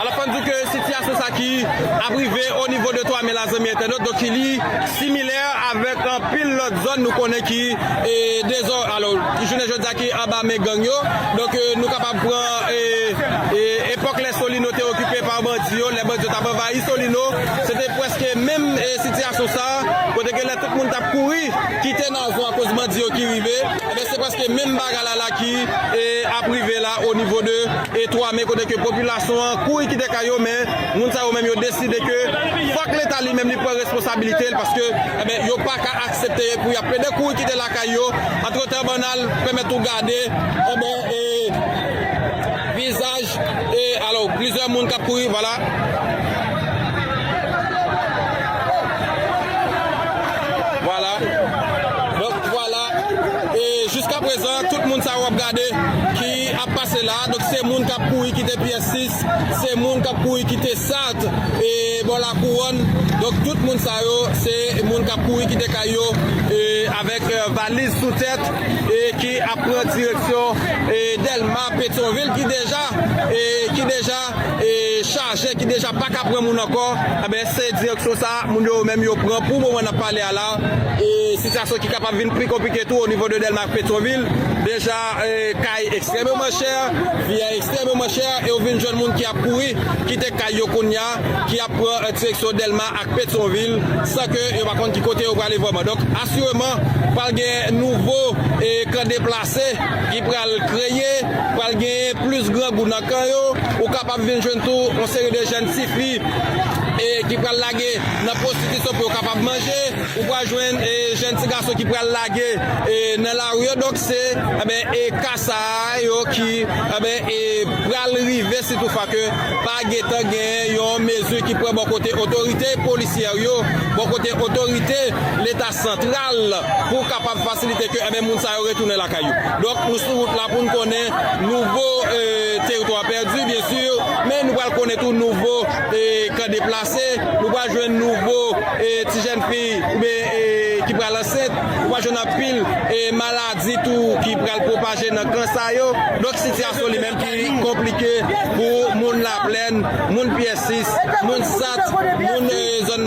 Alò fò n di w ke sitiyasyon sa ki ap rive o nivo de Twa Me la zanmi entènot donk ki li similè avèk anpil lòt zòn nou konnen ki dezò alò jounen jodi a ki anba men gang yo donk nou kapab pran epòk lè Solino te okipe pa bandi yo lè bandi yo t ap anvayi Solino se te prèske menm sitiyasyon sa kote ke lè tout moun t ap kouri kite Nazon akoz bandi yo ki rive. Ebyen se preske menm bagay la la ki ap rive la o nivo de 3 me kote ke popilasyon an kouri kite kay yo men moun sa yo menm yo deside ke fòk leta li menm li pran responsabilite l paske ebyen yo pa ka aksepte pou y ap plede kouri kite lakay yo antretan bann al pèmèt ou gade ebyen e vizaj e alò plizyè moun k ap kouri vwala. Vwala e jiska prezan tout moun sa yo wap gade ki ap pase la donk se moun kap kouri kite pyès 6 se moun kap kouri kite sart e bò lakouwòn donk tout moun sa yo se moun kap kouri kite kay yo e avèk valiz sou tèt e ki ap pran direksyon e dèlma petyonvil ki deja e ki deja. chaje ki deja pa ka pran moun ankò, enben se direksyon sa moun yo menm yo pran pou moman n ap pale a la, e sitiyasyon ki kapab vin pi konplike tou onivo de Dèlma ak Petwonvil, deja kay ekstrèmeman chè, vi a ekstrèmeman chè e ou vin jwenn moun ki ap kouri kite kay yo kounya ki ap pran direksyon Dèlma ak Petwonvil san ke yo pa konn ki kote yo prale vrèman. Donk asireman pral gen nouvo kan deplase. Se, ki pral kreye, pral genyen plis grangou nan kan yo, ou kapab vin jwenn tou yon seri de jèn ti fi e ki pral lage nan pwostitisyon pou yo kapab manje, ou pral jwenn jèn ti gason ki pral lage nan lari yo, donk se enben e ka sa yo ki enben e pral rive si tou fwa ke pa gen tan genyen yon mezi ki pran bò kote otorite polisyè yo, bò kote otorite leta. santral pou kapab fasilite ke enben moun sa yo retounen lakay yo. Donk nou sou wout la pou n konnen nouvo teritwa pèdi byen si men nou pral konnen tou nouvo kan deplase, nou pral jwenn nouvo ti jèn fi oubyen ki pral ansent, nou pral jwenn anpil maladi tou ki pral pwopaje nan kan sa yo. Donk sitiyasyon li menm ki konplike pou moun Laplèn, moun Pyè Sis, moun Sat, moun zòn.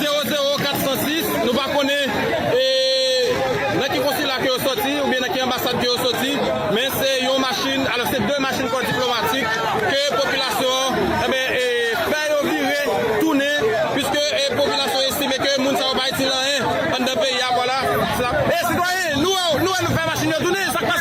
Zero zero 406 Nou pa konnen e nan ki konsila ke yo soti oubyen nan ki anbasad ke yo soti men se yon machin alò se 2 machin kò diplomatik ke popilasyon an enben e fè yo vire tounen piske e popilasyon estime ke moun sa yo pa itil anyen anndan peyi a vwala sa e sitwayen nou wè nou fè machin yo tounen sak pase.